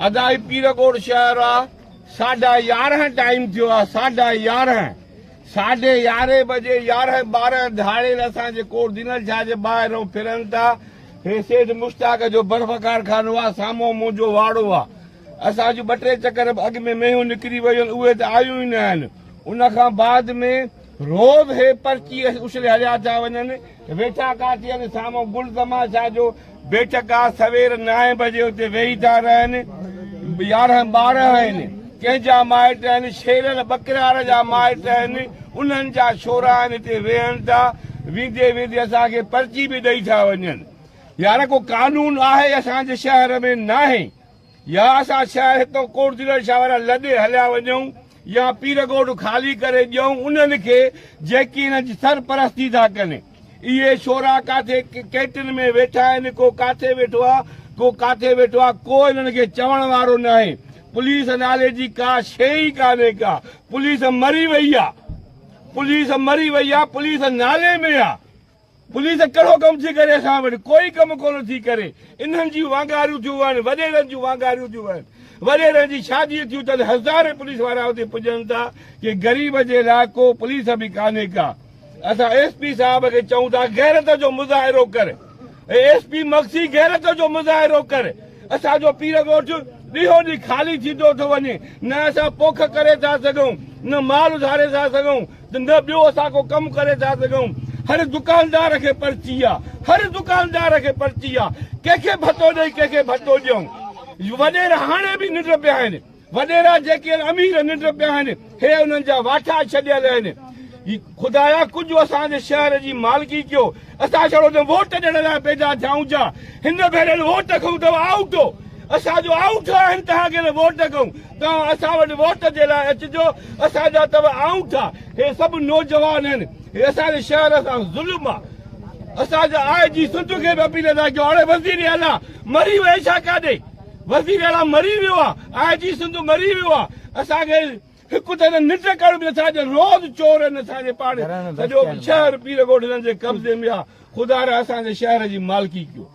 ادا هي پيرڪوٽ شهر آ ساڍا يارهن ٽائيم ٿيو آ ساڍا يارهن ساڍي يارهن بجي يارهن ٻارهن ڌاڙيل اسان جي ڪوٽ دينل شاهه جي ٻاهر ڦرن ٿا هي سيٺ مشتاق جو برف کارخانو آ سامهون منهنجو واڙو آ اسان جون ٻه ٽي چڪر اڳ ۾ مينهون نڪري ويون اهي ته آيون ئي نه آهن ان کان بعد ۾ روز هي پرچي اڇلي هليا ٿا وڃن. ويٺا ڪاٺي هنڌ سامهون گل تماشا جو بيٺڪا سوير نائين بجي اتي ويهي ٿا رهن. يارهن ٻارهن آهن. ڪنهن جا مائٽ آهن. شيرل ٻڪراڙ جا مائٽ آهن. انهن جا شورا آهن. اتي ويهن ٿا. ويندي ويندي اسان کي پرچي به ڏئي ٿا وڃن. يار ڪو قانون آهي اسان جي شهر ۾ ناهي. يا اسان شهر هتان ڪوٽ ضلعي شاهه وارا لڏي هليا وڃون يا پير ڳوٺ خالي ڪري ڏيون انهن کي جيڪي هن جي سرپرستي ٿا ڪن. اهي شورا ڪاٿي ڪيٽن ۾ ويٺا آهن، ڪو ڪاٿي ويٺو آ، ڪو ڪاٿي ويٺو آ، ڪو انهن کي چوڻ وارو ناهي. پوليس نالي جي ڪا شيء ئي ڪانهي ڪا. پوليس مري وئي آ. پوليس مري وئي آ. پوليس نالي ۾ آ. پوليس ڪهڙو ڪم ٿي ڪري اسان وٽ ڪوئي ڪم ڪونه ٿي ڪري انهن جون وانگاريون ٿيون وهن وڏيرن جون وانگاريون ٿيون وهن وڏيرن جي شادي ٿيون تن هزارين پوليس وارا اتي پڄن ٿا ڪي غريب جي لاء ڪو پوليس به ڪانهي ڪا اسان ايس پي صاحب کي چئون ٿا غيرت جو مظاهرو ڪر ايس پي مگسي غيرت جو مظاهرو ڪر اسان جو پير ڳوٺ ڏينهون ڏينهن خالي ٿيندو ٿو وڃي نه اسان پوک ڪري ٿا سگهون نه مال اڌاري ٿا سگهون ته نه ٻيو اسان ڪو ڪم ڪري ٿا سگهون. هر دڪاندار کي پرچي آ. هر دڪاندار کي پرچي آ. ڪنهن کي ڀتو ڏئي ڪنهن کي ڀتو ڏيئون. وڏيرا هاڻي به ننڊ پيا آهن. وڏيرا جيڪي آهن امير ننڊ پيا آهن. هي انهن جا واٺا ڇڏيل آهن. خدايا ڪجهه اسان جي شهر جي مالڪي ڪيو. اسان ڇڙو ته ووٽ ڏيڻ لاء پيدا ٿيا آهيون جا هن ڀيري ووٽ ڪيون اٿو آئوٽ. اسان جو آئوٽ آهن تنهن اڳي نه ووٽ ڪيون. توهان اسان وٽ ووٽ جي لاء اچجو، اسان جا اتو آڱٺا، هي سڀ نوجوان آهن، هي اسان جي شهر سان ظلم آ، اسان جا آء جي سنڌ کي به اپيل ادا ڪيو، هاڻي وزير اعليٰ مري ويو ڇا ڪاڏي، وزير اعليٰ مري ويو آ، آء جي سنڌ مري ويو آ، اسان کي هڪ ته هن ننڊ ڪرڻ به نٿا ڏين، روز چور آهن اسان جي پاڙي، سڄو شهر پيرڳوٺ هنن جي قبضي ۾ آ، خدا را اسان جي شهر جي مالڪي ڪيو.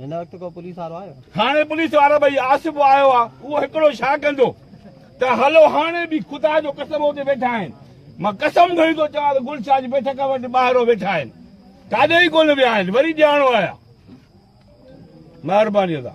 هن وقت ڪو پوليس وارو آيو هاڻي پوليس وارو ڀئي آصف آيو آ اهو هڪڙو ڇا ڪندو ته هلو هاڻي به خدا جو قسم اتي ويٺا آهن مان قسم کڻي ٿو چوان ته گل شاهه جي بيٺڪ وٽ ٻاهرو ويٺا آهن ڪاڏي ئي ڪونه ويا آهن وري ڄاڻو آيا مهرباني ادا